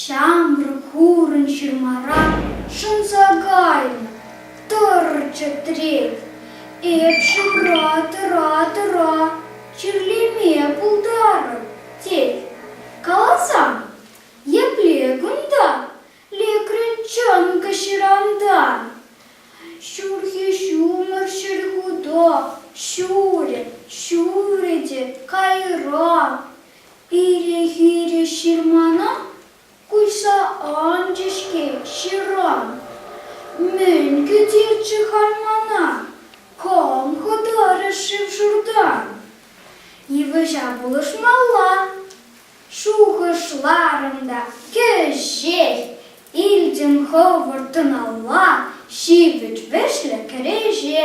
Ҫамрӑк хурӑн ҫырмара шӑнса кайнӑ, тӑрчӗ трет. Эп шывра тӑра-тӑра чирлеме пултарӑп, тет. Каласан, епле кунта? лекрӗн чӑнкӑ ҫыранта. Ҫурхи ҫумӑр ҫӗр хута ҫурӗ, ҫурӗ те кайран. Ире-хире ҫырмана куҫса анчӗ-ҫке ҫыран. Мӗн кӗтерччӗ-ха мана кам хӑтарӗ шыв-шуртан? Йывӑҫа пулӑшмалла, шухӑшларӑм та кӗҫех илтӗм хӑвӑрт тӑналла ҫивӗч вӗҫлӗ кӗреҫе.